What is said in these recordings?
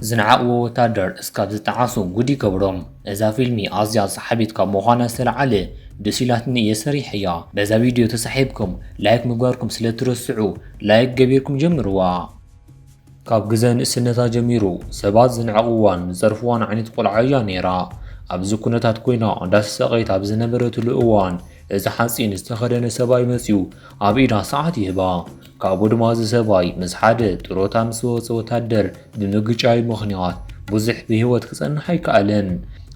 ዝነዓቕዎ ወታደር እስካብ ዝጠዓሱ ጉድ ይገብሮም። እዛ ፊልሚ ኣዝያ ሰሓቢት ካብ ምዃና ዝተለዓለ ደስ ኢላትኒ እየ ሰሪሐያ። በዛ ቪድዮ ተሳሒብኩም ላይክ ምግባርኩም ስለትረስዑ ላይክ ገቢርኩም ጀምርዋ። ካብ ግዘ ንእስነታ ጀሚሩ ሰባት ዝንዕቕዋን ዝፀርፍዋን ዓይነት ቆልዓ እያ ነይራ። ኣብዚ ኩነታት ኮይና እንዳተሳቐየት ኣብ ዝነበረትሉ እዋን እዚ ሓፂን ዝተኸደነ ሰብኣይ መፂኡ ኣብ ኢዳ ሰዓት ይህባ። ካብኡ ድማ እዚ ሰብኣይ ምስ ሓደ ጥሮታ ምስ ዝወፀ ወታደር ብምግጫዩ ምኽንያት ብዙሕ ብህይወት ክፀንሕ ኣይከኣለን።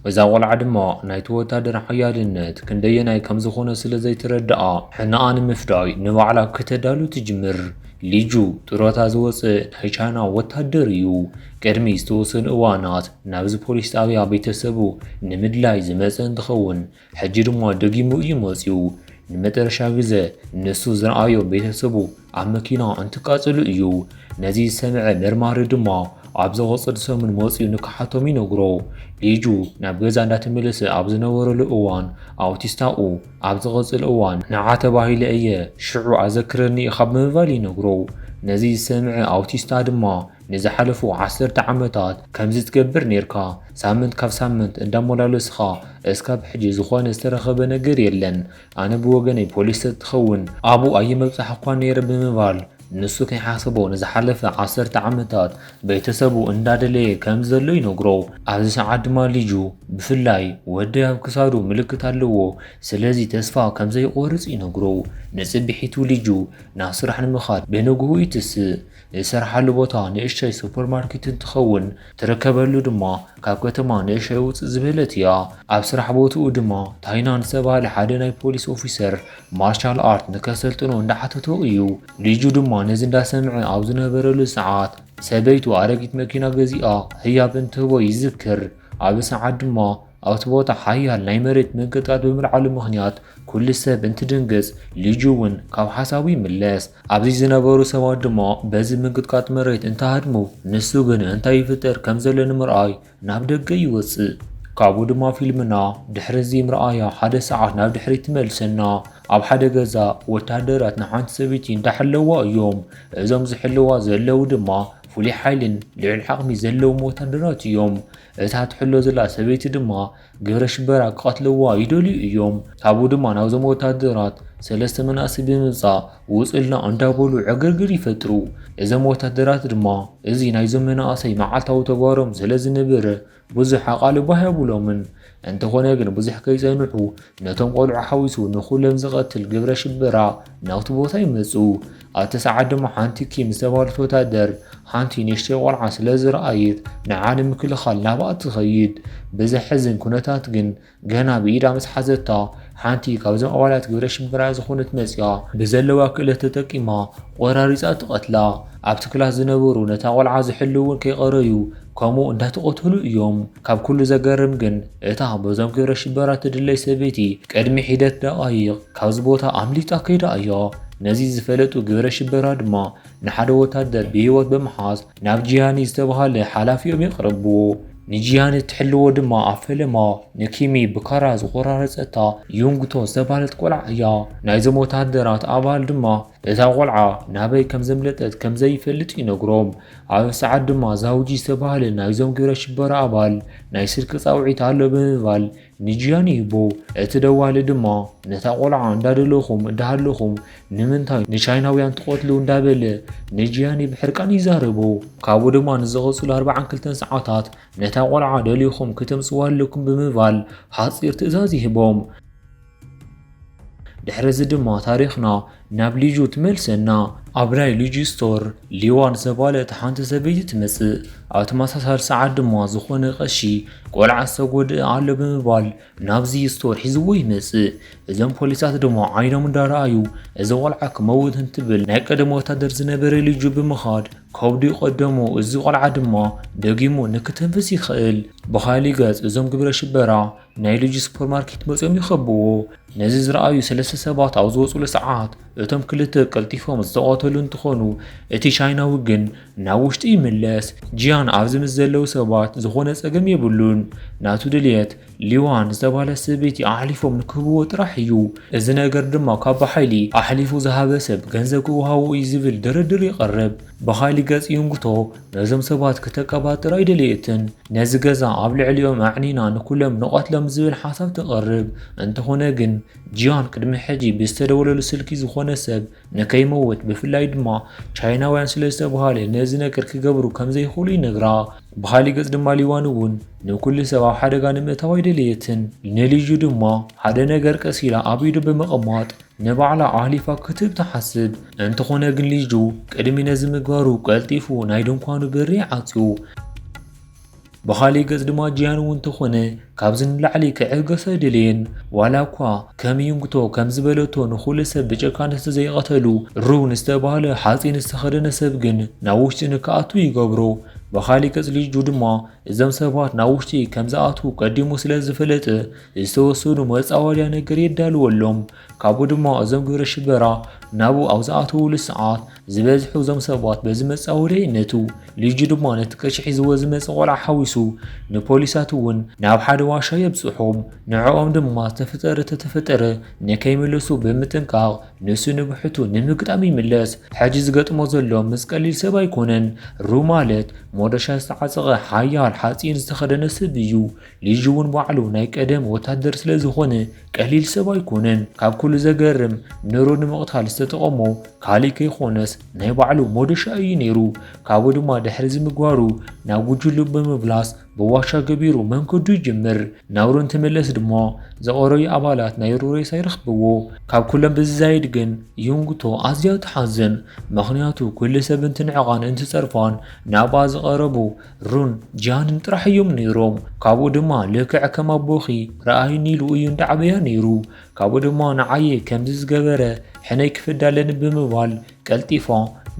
እዛ ቆልዓ ድማ ናይቲ ወታደር ሓያልነት ክንደየናይ ከምዝኾነ ስለዘይተረድኣ ሕነኣ ንምፍዳይ ንባዕላ ክተዳሉ ትጅምር። ሊጁ ጥሮታ ዝወጽእ ናይ ቻይና ወታደር እዩ። ቅድሚ ዝተወሰኑ እዋናት ናብዚ ፖሊስ ጣብያ ቤተሰቡ ንምድላይ ዝመጸ እንትኸውን ሕጂ ድማ ደጊሙ እዩ መጺኡ። ንመጠረሻ ግዘ ንሱ ዝረኣዮ ቤተሰቡ ኣብ መኪና እንትቃጽሉ እዩ። ነዚ ዝሰምዐ መርማሪ ድማ ኣብ ዝቕጽል ሰሙን መጺኡ ንክሓቶም ይነግሮ። ሊጁ ናብ ገዛ እንዳተመለሰ ኣብ ዝነበረሉ እዋን ኣውቲስታኡ ኣብ ዝቕጽል እዋን ንዓ ተባሂለ እየ፣ ሽዑ ኣዘክረኒ ኢኻ ብምባል ይነግሮ። ነዚ ዝሰምዐ ኣውቲስታ ድማ ንዝሓለፉ ዓሰርተ ዓመታት ከምዚ ትገብር ኔርካ፣ ሳምንት ካብ ሳምንት እንዳሞላለስኻ እስካብ ሕጂ ዝኾነ ዝተረኸበ ነገር የለን፣ ኣነ ብወገነይ ፖሊስ ተትኸውን ኣብኡ ኣይመብጻሕኳን ኔረ ብምባል ንሱ ከይሓሰቦ ንዝሓለፈ ዓሰርተ ዓመታት ቤተሰቡ እንዳደለየ ከም ዘሎ ይነግሮ። ኣብዚ ሰዓት ድማ ልጁ ብፍላይ ወደይ ኣብ ክሳዱ ምልክት ኣለዎ ስለዚ ተስፋ ከም ዘይቆርጽ ይነግሮ። ንጽብሒቱ ልጁ ናብ ስራሕ ንምኻድ ብንግሁ ይትስእ። ዝሰርሓሉ ቦታ ንእሽቶይ ሱፐርማርኬት እንትኸውን ትርከበሉ ድማ ካብ ከተማ ንእሸይ ውጽእ ዝበለት እያ። ኣብ ስራሕ ቦትኡ ድማ ታይናን ዝተባህለ ሓደ ናይ ፖሊስ ኦፊሰር ማርሻል ኣርት ንከሰልጥኖ እንዳሓተቶ እዩ። ልጁ ድማ ነዚ እንዳሰምዐ ኣብ ዝነበረሉ ሰዓት ሰበይቱ ኣረጊት መኪና ገዚኣ ህያብ እንትህቦ ይዝክር። ኣብዚ ሰዓት ድማ ኣብቲ ቦታ ሓያል ናይ መሬት መንቅጥቀጥ ብምልዓሉ ምኽንያት ኩሉ ሰብ እንትድንግጽ ልጁ እውን ካብ ሓሳቡ ይምለስ። ኣብዚ ዝነበሩ ሰባት ድማ በዚ ምንቅጥቃጥ መሬት እንተሃድሙ ንሱ ግን እንታይ ይፍጠር ከም ዘሎ ንምርኣይ ናብ ደገ ይወጽእ። ካብኡ ድማ ፊልምና ድሕሪ እዚ ምርኣያ ሓደ ሰዓት ናብ ድሕሪት ትመልሰና። ኣብ ሓደ ገዛ ወተሃደራት ንሓንቲ ሰበይቲ እንዳሐለዋ እዮም። እዞም ዝሕልዋ ዘለዉ ድማ ፍሉይ ሓይልን ልዑል ዓቕሚ ዘለዎም ወተሃደራት እዮም። እታ ትሕሎ ዘላ ሰበይቲ ድማ ግብረ ሽበራ ክቐትልዋ ይደልዩ እዮም። ካብኡ ድማ ናብዞም ወታደራት ሰለስተ መናእሰይ ብምምጻእ ውጹልና እንዳበሉ ዕግርግር ይፈጥሩ። እዞም ወታደራት ድማ እዚ ናይዞም መናእሰይ መዓልታዊ ተግባሮም ስለዝነበረ ብዙሕ ኣቓልቦ ኣይሃቡሎምን። እንተኾነ ግን ብዙሕ ከይጸንሑ ነቶም ቆልዑ ሓዊሱ ንኹሎም ዝቐትል ግብረ ሽበራ ናብቲ ቦታ ይመጹ። ኣብቲ ሰዓት ድማ ሓንቲ ኪም ዝተባህለት ወታደር ሓንቲ ንእሽተይ ቆልዓ ስለ ዝረኣየት ንዓ ንምክልኻል ናብኣ ትኸይድ። ብዘሕዝን ኩነታት ግን ገና ብኢዳ ምስ ሓዘታ ሓንቲ ካብዞም ኣባላት ግብረ ሽበራ ዝኾነት መጽያ ብዘለዋ ክእለት ተጠቂማ ቆራሪጻ ትቐትላ። ኣብቲ ክላስ ዝነበሩ ነታ ቆልዓ ዝሕልው እውን ከይቐረዩ ከምኡ እንዳተቐተሉ እዮም። ካብ ኩሉ ዘገርም ግን እታ በዞም ግብረ ሽበራ ትድለይ ሰበይቲ ቅድሚ ሒደት ደቓይቕ ካብዚ ቦታ ኣምሊጣ ከይዳ እያ። ነዚ ዝፈለጡ ግብረ ሽበራ ድማ ንሓደ ወታደር ብህይወት ብምሓዝ ናብ ጂያኒ ዝተባሃለ ሓላፊኦም የቕርብዎ። ንጂያኒ እትሕልዎ ድማ ኣብ ፈለማ ንኪሚ ብካራ ዝቆራረጸታ ዩንግቶ ዝተባህለት ቆልዓ እያ። ናይዞም ወታደራት ኣባል ድማ እታ ቆልዓ ናበይ ከም ዘምለጠት ከም ዘይፈልጥ ይነግሮም። ኣብ ሰዓት ድማ ዛውጂ ዝተባህለ ናይዞም ግብረ ሽበራ ኣባል ናይ ስልኪ ጻውዒት ኣሎ ብምባል ንጂያን ይህቦ። እቲ ደዋሊ ድማ ነታ ቆልዓ እንዳደለኹም እንዳሃለኹም ንምንታይ ንቻይናውያን ትቐትሉ እንዳበለ ንጂያን ብሕርቃን ይዛረቦ። ካብኡ ድማ ንዝቐጽሉ ኣርባዓን ክልተን ሰዓታት ነታ ቆልዓ ደሊኹም ክተምጽዋ ኣለኩም ብምባል ሓጺር ትእዛዝ ይህቦም። ድሕሪ እዚ ድማ ታሪኽና ናብ ሊጁ ትመልሰና። ኣብ ናይ ሊጁ ስቶር ሊዋ ዝተባለት ሓንቲ ሰበይቲ ትመጽእ። ኣብ ተመሳሳሊ ሰዓት ድማ ዝኾነ ቀሺ ቆልዓ ዝተጎድኣ ኣሎ ብምባል ናብዚ ስቶር ሒዝዎ ይመጽእ። እዞም ፖሊሳት ድማ ዓይኖም እንዳረኣዩ እዚ ቆልዓ ክመውት እንትብል ናይ ቀደም ወታደር ዝነበረ ሊጁ ብምኻድ ከብዱ ይቐደሙ። እዚ ቆልዓ ድማ ደጊሙ ንክተንፍስ ይኽእል። ብኻሊእ ገጽ እዞም ግብረ ሽበራ ናይ ልጅ ሱፐርማርኬት መጺኦም ይኸብዎ። ነዚ ዝረኣዩ ሰለስተ ሰባት ኣብ ዝወጹሉ ሰዓት እቶም ክልተ ቀልጢፎም ዝተቐተሉ እንትኾኑ እቲ ቻይናዊ ግን ናብ ውሽጢ ይምለስ። ጂያን ኣብዚ ምስ ዘለዉ ሰባት ዝኾነ ጸገም የብሉን። ናቱ ድልየት ሊዋን ዝተባህለ ሰበይቲ ኣሕሊፎም ንክህብዎ ጥራሕ እዩ። እዚ ነገር ድማ ካብ ብሓይሊ ኣሕሊፉ ዝሃበ ሰብ ገንዘብ ክወሃቦ እዩ ዝብል ድርድር የቕርብ። ብሓይሊ ገጽ ዩንግቶ ነዞም ሰባት ክተቀባጥር ኣይደለየትን። ነዚ ገዛ ኣብ ልዕሊኦም ኣዕኒና ንኩሎም ንቐትሎም ዝብል ሓሳብ ተቕርብ። እንተኾነ ግን ጂያን ቅድሚ ሕጂ ብዝተደወለሉ ስልኪ ዝኾነ ሰብ ንከይመውት ብፍላይ ድማ ቻይናውያን ስለ ዝተብሃለ ነዚ ነገር ክገብሩ ከም ዘይኽእሉ ይነግራ። ብኻሊእ ገጽ ድማ ሊዋን እውን ንኩሉ ሰብ ኣብ ሓደጋ ንምእታው ኣይደለየትን። ንሊዡ ድማ ሓደ ነገር ቀስ ኢላ ኣብ ኢዱ ብምቕማጥ ንባዕላ ኣሕሊፋ ክትህብ ትሓስብ። እንተኾነ ግን ሊጁ ቅድሚ ነዚ ምግባሩ ቀልጢፉ ናይ ድንኳኑ በሪ ዓጽዩ። ብኻልእ ገጽ ድማ ጂያን እውን ተኾነ ካብዚ ንላዕሊ ክዕገስ ኣይደለየን። ዋላ እኳ ከም ዩንግቶ ከም ዝበለቶ ንኹሉ ሰብ ብጨካን ዝተዘይቐተሉ ሩን ዝተባህለ ሓጺን ዝተኸደነ ሰብ ግን ናብ ውሽጢ ንክኣቱ ይገብሮ። ብኻልእ ገጽ ሊጁ ድማ እዞም ሰባት ናብ ውሽጢ ከም ዝኣትዉ ቀዲሙ ስለ ዝፍለጥ ዝተወሰኑ መጻወድያ ነገር የዳልወሎም ካብኡ ድማ እዞም ግብረ ሽበራ ናብኡ ኣብ ዝኣትውሉ ሰዓት ዝበዝሑ እዞም ሰባት በዚ መጻወድያ ይነቱ ልጁ ድማ ነቲ ቅርሺ ሒዝዎ ዝመፀ ቆልዓ ሓዊሱ ንፖሊሳት እውን ናብ ሓደ ዋሻ የብፅሖም ንዕኦም ድማ ዝተፈጠረ ተተፈጠረ ንከይምለሱ ብምጥንቃቕ ንሱ ንብሕቱ ንምግጣም ይምለስ ሕጂ ዝገጥሞ ዘሎ ምስ ቀሊል ሰብ ኣይኮነን ሩ ማለት ሞዶሻ ዝተዓጸቐ ሓያል ሓጺን ዝተኸደነ ሰብ እዩ ልጁ እውን ባዕሉ ናይ ቀደም ወታደር ስለ ዝኾነ ቀሊል ሰብ ኣይኮነን ካብ ኩሉ ዘገርም ንሩ ንምቕታል ዝተጠቐሞ ካሊእ ከይኮነስ ናይ ባዕሉ ሞዶሻ እዩ ነይሩ ካብኡ ድማ ድሕሪ ዝምግባሩ ናብ ጉጅሉ ብምብላስ ብዋሻ ገቢሩ መንገዱ ይጅምር። ናብሩ እንትምለስ ድማ ዘቐረዩ ኣባላት ናይሩ ሬሳ ይረኽብዎ። ካብ ኩሎም ብዝዛይድ ግን ዩንግቶ ኣዝያ ትሓዝን። ምኽንያቱ ኩሉ ሰብ እንትንዕቓን እንትጸርፋን ናብኣ ዝቐረቡ ሩን ጂያንን ጥራሕ እዮም ነይሮም። ካብኡ ድማ ልክዕ ከም ኣቦኺ ረኣይኒ ኢሉ እዩ እንዳዓበያ ነይሩ። ካብኡ ድማ ንዓየ ከምዚ ዝገበረ ሕነይ ክፍዳ ኣለኒ ብምባል ቀልጢፋ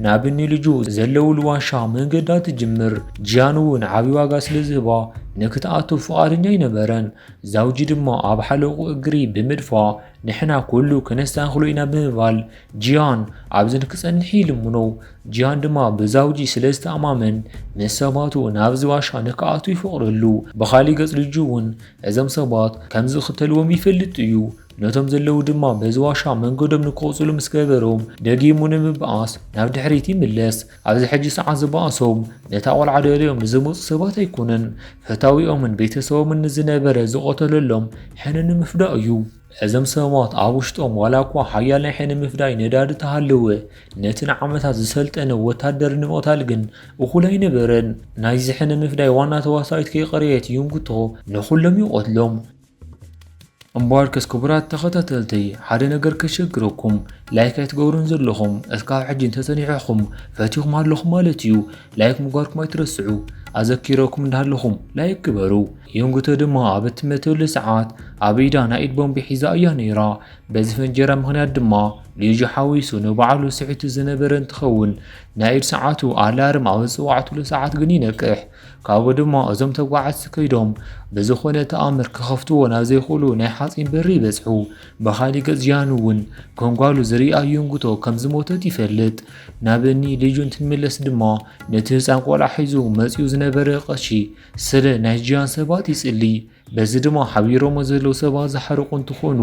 ናብ ኒልጁ ዘለውሉ ዋሻ መንገዳ ትጅምር። ጂያን እውን ዓብዪ ዋጋ ስለ ዝህባ ንክትኣቱ ፍቓደኛ ኣይነበረን። ዛውጂ ድማ ኣብ ሓለቑ እግሪ ብምድፋ ንሕና ኩሉ ከነስተኻኽሎ ኢና ብምባል ጂያን ኣብዝን ክጸንሕ ይልምኖ። ጂያን ድማ ብዛውጂ ስለ ዝተኣማመን ምስ ሰባቱ ናብዚ ዋሻ ንክኣቱ ይፈቕደሉ። ብኻሊእ ገጽ ልጁ እውን እዞም ሰባት ከም ዝኽተልዎም ይፈልጥ እዩ። ነቶም ዘለዉ ድማ በዚ ዋሻ መንገዶም ንክቕፅሉ ምስ ገበሮም ደጊሙ ንምብኣስ ናብ ድሕሪት ይምለስ። ኣብዚ ሕጂ ሰዓት ዝበኣሶም ነታ ቆልዓ ደልዮም ንዝመፁ ሰባት ኣይኮነን፣ ፈታዊኦምን ቤተሰቦምን ንዝነበረ ዝቐተለሎም ሕነ ንምፍዳእ እዩ። እዞም ሰባት ኣብ ውሽጦም ዋላ እኳ ሓያል ናይ ሕነ ምፍዳይ ነዳዲ ተሃለወ፣ ነቲ ንዓመታት ዝሰልጠነ ወታደር ንምቕታል ግን እኹል ኣይነበረን። ናይዚ ሕነ ምፍዳይ ዋና ተዋሳኢት ከይቐረየት ዩንግቶ ንኹሎም ይቐትሎም። እምበኣርከስ ክቡራት ተኸታተልተይ ሓደ ነገር ከሸግረኩም ላይክ ኣይትገብሩን ዘለኹም እስካብ ሕጂ እንተሰኒዕኹም ፈቲኹም ኣለኹም ማለት እዩ ላይክ ምግባርኩም ኣይትረስዑ ኣዘኪረኩም እንዳለኹም ላይክ ግበሩ የንጉተ ድማ ኣብ እትመተሉ ሰዓት ኣብ ኢዳ ናይ ኢድ ቦምቢ ሒዛ እያ ነይራ በዚ ፈንጀራ ምክንያት ድማ ልጁ ሓዊሱ ንባዕሉ ስሒቱ ዝነበረ እንትኸውን ናይ ኢድ ሰዓቱ ኣላርም ኣብ ዝፅዋዕትሉ ሰዓት ግን ይነቅሕ ካብኡ ድማ እዞም ተጓዓዝቲ ከይዶም ብዝኾነ ተኣምር ክኸፍትዎ ናብ ዘይኽእሉ ናይ ሓጺን በሪ ይበጽሑ። በኻሊ ገጽ ጂያን እውን ከም ጓሉ ዝርኣ ዩንግቶ ከም ዝሞተት ይፈልጥ። ናብ እኒ ሊጁን ትንምለስ ድማ ነቲ ህጻን ቆልዓ ሒዙ መጺኡ ዝነበረ ቀሺ ስለ ናይ ጂያን ሰባት ይጽሊ። በዚ ድማ ሓቢሮሞ ዘለዉ ሰባት ዝሓርቁ እንትኾኑ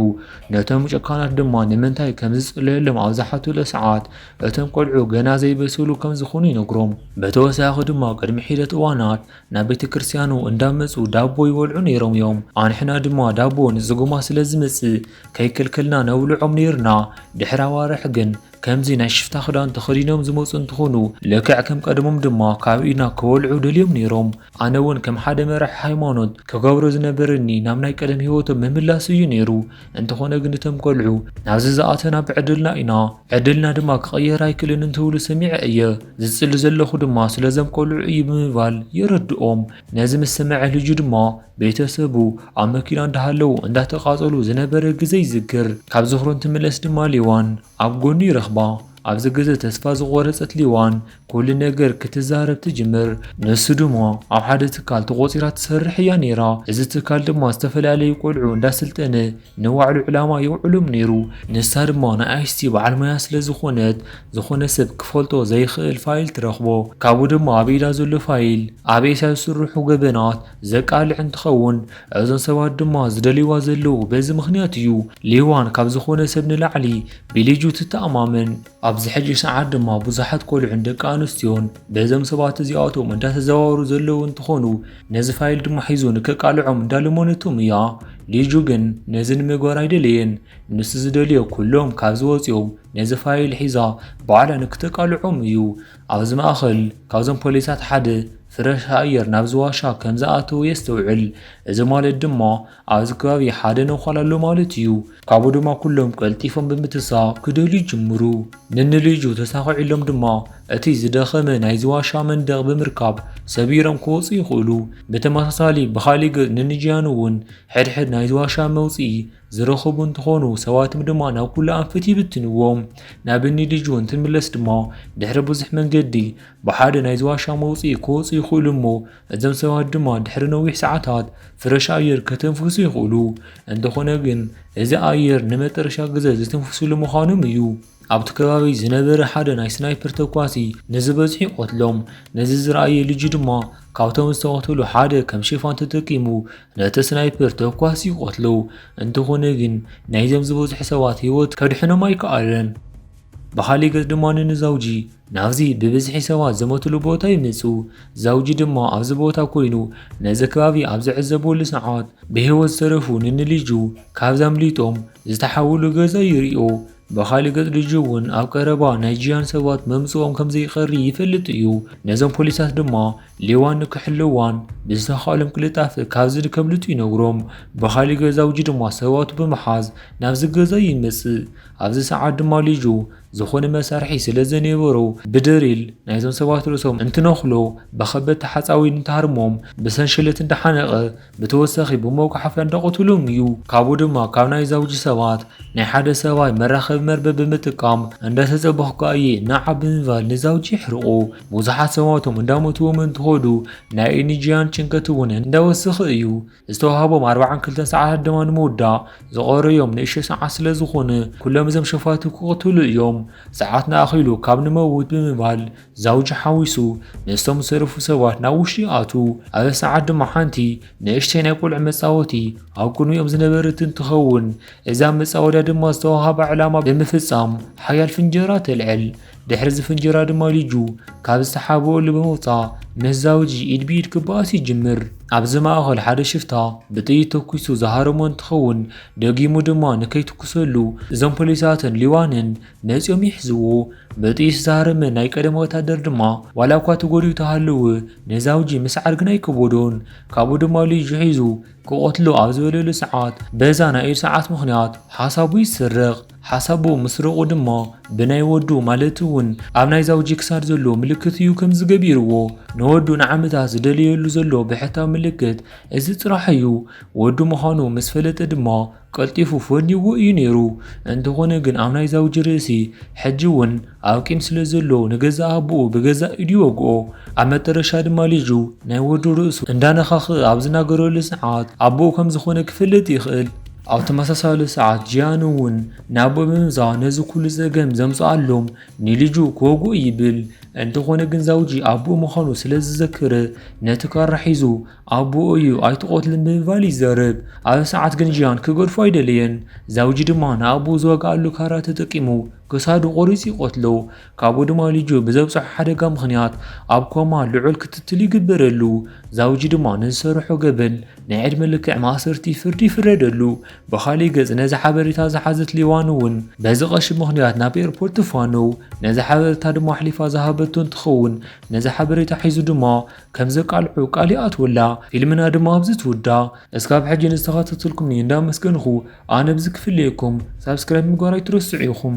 ነቶም ጨካናት ድማ ንምንታይ ከም ዝጽለየሎም ኣብ ዝሓቱለ ሰዓት እቶም ቆልዑ ገና ዘይበሰሉ ከም ዝኾኑ ይነግሮም። በተወሳኺ ድማ ቅድሚ ሒደት እዋናት ናብ ቤተ ክርስቲያኑ እንዳመጹ ዳቦ ይበልዑ ነይሮም እዮም። ኣንሕና ድማ ዳቦ ንጽጉማት ስለ ዝመጽእ ከይከልከልና ነብልዖም ነይርና። ድሕሪ ኣዋርሕ ግን ከምዚ ናይ ሽፍታ ክዳን ተኸዲኖም ዝመጹ እንትኾኑ ልክዕ ከም ቀደሞም ድማ ካብ ኢድና ክበልዑ ደልዮም ነይሮም። ኣነ ውን ከም ሓደ መራሒ ሃይማኖት ክገብሮ ዝነበረኒ ናብ ናይ ቀደም ሂወቶም ምምላስ እዩ ነይሩ። እንተኾነ ግን እቶም ቆልዑ ናብዚ ዝኣተና ብዕድልና ኢና ዕድልና ድማ ክቕየር ኣይክእልን እንትብሉ ሰሚዐ እየ። ዝጽሊ ዘለኹ ድማ ስለዞም ቆልዑ እዩ ብምባል የረድኦም። ነዚ ምስ ሰምዐ ልጁ ድማ ቤተሰቡ ኣብ መኪና እንዳሃለዉ እንዳተቓጸሉ ዝነበረ ግዘ ይዝክር። ካብ ዝኽሩ እንትምለስ ድማ ሌዋን ኣብ ጎኑ ይረኽባ። ኣብዚ ግዘ ተስፋ ዝቖረጸት ሌዋን ኩሉ ነገር ክትዛረብ ትጅምር። ንሱ ድማ ኣብ ሓደ ትካል ተቖጺራ ትሰርሕ እያ ነይራ። እዚ ትካል ድማ ዝተፈላለዩ ቆልዑ እንዳስልጠነ ንባዕሉ ዕላማ የውዕሎም ነይሩ፣ ንሳ ድማ ንኣይሲቲ በዓል ሞያ ስለ ዝኾነት ዝኾነ ሰብ ክፈልጦ ዘይኽእል ፋይል ትረኽቦ፣ ካብኡ ድማ ኣብ ኢዳ ዘሎ ፋይል ኣብ ኤስያ ዝስርሑ ገበናት ዘቃልዕ እንትኸውን እዞም ሰባት ድማ ዝደልይዋ ዘለዉ በዚ ምኽንያት እዩ፣ ሊዋን ካብ ዝኾነ ሰብ ንላዕሊ ብሊጁ ትተኣማመን። ኣብዚ ሕጂ ሰዓት ድማ ብዙሓት ቆልዑን ደቂ ኣንስትዮን በዞም ሰባት እዚኣቶም እንዳተዘዋወሩ ዘለዉ እንትኾኑ ነዚ ፋይል ድማ ሒዙ ንከቃልዖም እንዳለመነቶም እያ። ሊጁ ግን ነዚ ንምግባር ኣይደለየን። ንሱ ዝደልዮ ኩሎም ካብዚ ወፂኦም ነዚ ፋይል ሒዛ ባዕላ ንክተቃልዖም እዩ። ኣብዚ ማእኸል ካብዞም ፖሊሳት ሓደ ፍረሽ ኣየር ናብዚ ዋሻ ከምዝኣተወ የስተውዕል። እዚ ማለት ድማ ኣብዚ ከባቢ ሓደ ነዃል ኣሎ ማለት እዩ። ካብኡ ድማ ኩሎም ቀልጢፎም ብምትሳ ክደልዩ ይጅምሩ። ንንልይጁ ተሳኺዑሎም ድማ እቲ ዝደኸመ ናይዚ ዋሻ መንደቕ ብምርካብ ሰቢሮም ክወጹ ይኽእሉ። ብተመሳሳሊ ብኻሊእ ገጽ ንንጂያን እውን ሕድሕድ ናይዚ ዋሻ መውጽኢ ዝረኸቡ እንትኾኑ ሰባትም ድማ ናብ ኩሉ ኣንፈት ይብትንዎም። ናብ ንልይጁ እንትንምለስ ድማ ድሕሪ ብዙሕ መንገዲ ብሓደ ናይዚ ዋሻ መውጽኢ ክወጹ ይኽእሉ እሞ እዞም ሰባት ድማ ድሕሪ ነዊሕ ሰዓታት ፍረሽ ኣየር ከተንፍሱ ይኽእሉ። እንተኾነ ግን እዚ ኣየር ንመጠረሻ ግዘ ዝትንፍሱሉ ምዃኖም እዩ። ኣብቲ ከባቢ ዝነበረ ሓደ ናይ ስናይፐር ተኳሲ ንዝበዝሑ ይቐትሎም። ነዚ ዝረኣየ ልጁ ድማ ካብቶም ዝተቐተሉ ሓደ ከም ሽፋን ተጠቂሙ ነቲ ስናይፐር ተኳሲ ይቐትሎ። እንተኾነ ግን ናይዞም ዝበዝሑ ሰባት ህይወት ከድሕኖም ኣይከኣለን። ብኻሊእ ገፅ ድማ ንዛውጂ ናብዚ ብብዝሒ ሰባት ዝሞትሉ ቦታ ይመጹ። ዛውጂ ድማ ኣብዚ ቦታ ኮይኑ ነዚ ከባቢ ኣብ ዝዕዘበሉ ሰዓት ብህይወት ዝተረፉ ንንልጁ ካብዚ ኣምሊጦም ዝተሓውሉ ገዛ ይሪኦ። ብኻልእ ገጽ ልጁ እውን ኣብ ቀረባ ናይ ጂያን ሰባት መምጽኦም ከምዘይቀሪ ይፈልጥ እዩ። ነዞም ፖሊሳት ድማ ሌዋን ንክሕልዋን ብዝተኻእሎም ቅልጣፈ ካብዚ ከምልጡ ይነግሮም። ብኻልእ ገዛውጂ ድማ ሰባቱ ብምሓዝ ናብዚ ገዛ ይመጽእ። ኣብዚ ሰዓት ድማ ልጁ ዝኾነ መሳርሒ ስለ ዘኔበሮ ብድሪል ናይዞም ሰባት ርእሶም እንትነኽሎ ብኸበድቲ ሓፃዊን እንትሃርሞም ብሰንሸለት እንዳሓነቐ ብተወሳኺ ብመጉሓፍያ እንዳቐትሎም እዩ። ካብኡ ድማ ካብ ናይ ዛውጂ ሰባት ናይ ሓደ ሰብኣይ መራኸቢ መርበብ ብምጥቃም እንዳተፀበኹካ እየ ናዓ ብምባል ንዛውጂ የሕርቖ። ብዙሓት ሰባቶም እንዳሞትዎም እንትኸዱ ናይ እኒ ጂያን ጭንቀት እውን እንዳወሰኸ እዩ። ዝተዋህቦም ኣርባዓን ክልተን ሰዓታት ድማ ንምውዳእ ዝቐሩ እዮም ንእሽቶ ሰዓት ስለ ዝኾነ ኩሎም እዞም ሸፋቱ ክቕትሉ እዮም ሰዓት ንኣኺሉ ካብ ንመውት ብምባል ዛውጂ ሓዊሱ ምስቶም ዝሰረፉ ሰባት ናብ ውሽጢ ኣቱ ኣብ ሰዓት ድማ ሓንቲ ንእሽተይ ናይ ቆልዑ መፃወቲ ኣብ ቅድሚኦም ዝነበረት እንትኸውን እዛ መፃወዳ ድማ ዝተዋሃባ ዕላማ ብምፍፃም ሓያል ፍንጀራ ተልዕል ድሕሪ እዚ ፍንጀራ ድማ ልጁ ካብ ዝተሓበኦሉ ብምውፃእ ምህዛዊ ኢድ ብኢድ ክበኣስ ይጅምር። ኣብዚ ማእኸል ሓደ ሽፍታ ብጥይት ተኩሱ ዝሃረሞ እንትኸውን ደጊሙ ድማ ንከይትኩሰሉ እዞም ፖሊሳትን ሊዋንን መፂኦም ይሕዝዎ። ብጥይት ዝሃረመ ናይ ቀደም ወታደር ድማ ዋላ እኳ ተጎዲኡ ተሃለወ ንዛውጂ ምስዓር ግን ኣይከበዶን። ካብኡ ድማ ልጁ ሒዙ ክቐትሎ ኣብ ዝበለሉ ሰዓት በዛ ናይ ኢድ ሰዓት ምኽንያት ሓሳቡ ይስረቕ። ሓሳቡ ምስ ርቑ ድሞ ብናይ ወዱ ማለት እውን ኣብ ናይ ዛውጂ ክሳድ ዘሎ ምልክት እዩ ከምዚ ገቢርዎ ንወዱ ንዓመታት ዝደለየሉ ዘሎ ብሕታዊ ምልክት እዚ ጥራሕ እዩ። ወዱ ምዃኑ ምስ ፈለጠ ድማ ቀልጢፉ ፈንይዎ እዩ ነይሩ። እንተኾነ ግን ኣብ ናይ ዛውጂ ርእሲ ሕጂ እውን ኣብ ቂም ስለ ዘሎ ንገዛእ ኣቦኡ ብገዛእ ኢዱ ይወግኦ። ኣብ መጠረሻ ድማ ልጁ ናይ ወዱ ርእሱ እንዳነኻኽእ ኣብ ዝናገረሉ ሰዓት ኣቦኡ ከም ዝኾነ ክፈልጥ ይኽእል። ኣብ ተመሳሳሊ ሰዓት ጂያን እውን ናብ ብምምዛው ነዚ ኩሉ ጸገም ዘምጽኣሎም ንልጁ ክወግኦ ይብል። እንተኾነ ግን ዛውጂ ኣቦኡ ምዃኑ ስለ ዝዘክር ነቲ ካራ ሒዙ ኣቦኡ እዩ ኣይትቆትልን ብምባል ይዛረብ። ኣብዚ ሰዓት ግን ጂያን ክገድፎ ኣይደለየን። ዛውጂ ድማ ንኣቦኡ ዝዋግኣሉ ካራ ተጠቂሙ ክሳዱ ቆሪጹ ይቐትሎ። ካብ ድማ ልጁ ብዘብጽሖ ሓደጋ ምኽንያት ኣብ ኮማ ልዑል ክትትል ይግበረሉ፣ ዛውጂ ድማ ንዝሰርሖ ገበን ናይ ዕድመ ልክዕ ማእሰርቲ ፍርዲ ይፍረደሉ። ብኻሊእ ገጽ ነዚ ሓበሬታ ዝሓዘት ሊዋን'ውን በዚ ቀሺ ምኽንያት ናብ ኤርፖርት ትፋነው፣ ነዚ ሓበረታ ድማ ኣሕሊፋ ዝሃበቶ እንትኸውን ነዚ ሓበሬታ ሒዙ ድማ ከም ዘቃልዖ ቃል ይኣትወላ። ፊልምና ድማ ኣብዚ ትውዳእ። እስካብ ሕጂ ንዝተኻታተልኩምኒ እንዳመስገንኹ ኣነ ብዚ ክፍለየኩም ሳብስክራይብ ምግባር ኣይትረስዑ ኢኹም።